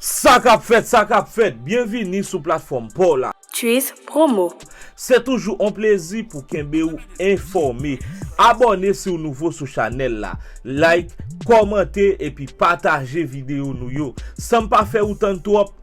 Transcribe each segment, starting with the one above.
Sa kap fèt sa kap fèt byen vini sou platfòm paw la. Tchuiss promo. Se toujou on plezi pou kenbe ou enfòme. Abòne si w nouvo sou chanèl la. Like, kòmante epi pataje videyo nou yo. San m pa fè ou tann twòp.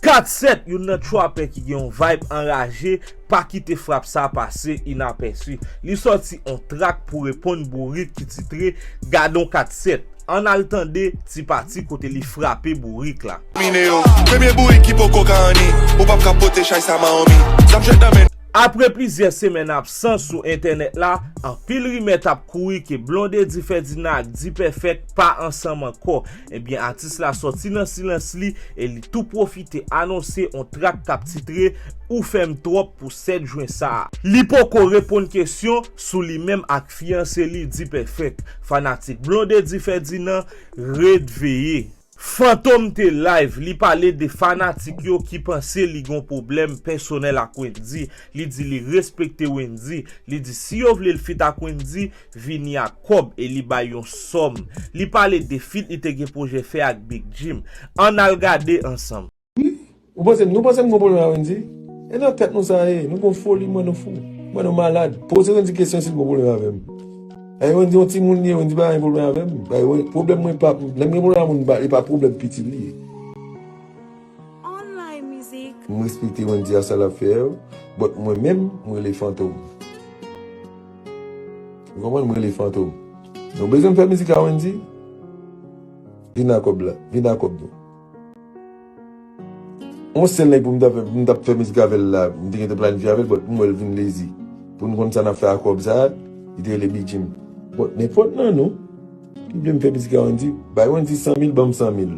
Kat Sèt, youn nan trapè ki gen yon vibe anraje, pa kite frap sa pase inapèsi. Li sòti on trak pou reponn Bourik ki titre Gadon Kat Sèt. Ann al tande ti pati kote li frape Bourik la. Domine yo, premye bourik ki poko ka anni, ou pap ka pote chay sa mahomi. Zam jwet nan men. Apre plizyè semèn absans sou entènèt la, anpil rimè t ap kouri ke Blondedy Ferdinand ak D-Perfect pa ansanm ankò. Ebyen atis la sòti nan silans li e li tou pwofite anonse on trak kap titre Ou fèm twòp pou 7 jwen sa. Li poko reponn kesyon sou li menm ak fiyanse li D-Perfect, fanatik Blondedy Ferdinand ret veye. Fantom te live, li pale de fanatik yo ki panse li gon pwoblèm pèsonèl ak Wendy, li di li respekte Wendy, li di si yo vle l fit ak Wendy, vini ak kòb e li bay yon sòm li pale de feat li te gen pwojè fè ak Big Jim ann al gade ansanm. Wi ou panse m nou panse m gon pwoblèm a Wendy e nan tèt nou sa ye nou gon foli m wè nou fou m wè nou malad poze Wendy kesyon si l gon pwoblèm avè m e Wendy yon timoun li ye Wendy pa gen pwoblèm avè m e pwoblèm mwen pa lè m gen pwoblèm a moun m pa li pa pwoblèm pitit li ye. M respekte Wendy a sa lap fè yo but mwen menm m rele Fantom ou konprann m rele Fantom nou bezwen fè mizik a Wendy vin a kòb la vin a kòb nou yon sèl nèg pou m ta fè m tap fè mizik avèl la m te gen te planifye avèl but m wèl vin lezi poun konn sa nap fè a kòb sa li te rele Big Jim but nenpòt nan nou. Li vle m fè mizik a Wendy. Bay Wendy 100 mil banm 100 mil.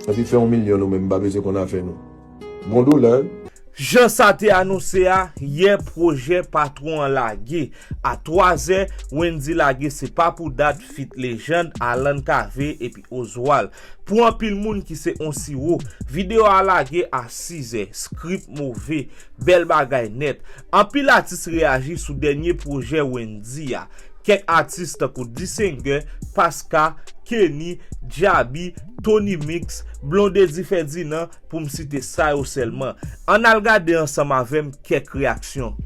Epi fè yon milyon nou menm m pa bezwen konn afè nou. Bon dola. Jan sa te anonse a, yè pwojè patwon an lage. A 3 zè, Wendy lage Se Pa Pou Dat feat Lejand, Alan Cavé epi Oswald. Pou anpil moun ki se on siwo, videyo a lage a 6 zè. Script move. Bèl bagay nèt. Anpil atis reyaji sou dènye pwojè Wendyy a. Kèk atis tankou Dsinger, Paska, Kenny, Djaby, Tony Mix, Blondedy Ferdinand pou m site sa yo sèlman. Ann al gade ansanm avè m kèk reyaksyon.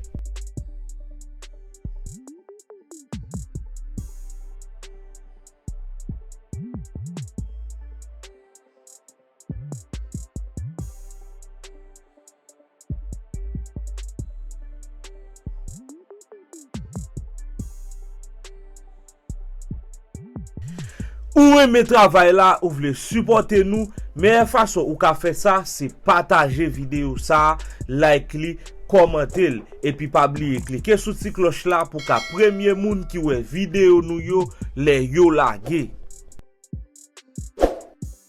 Ou renmen travay la ou vle sipòte nou meyè fason ou ka fè sa se pataje videyo sa like li kòmante l epi pa bliye klike sou ti klòch la pou ka premye moun ki wè videyo nou yo lè yo lage.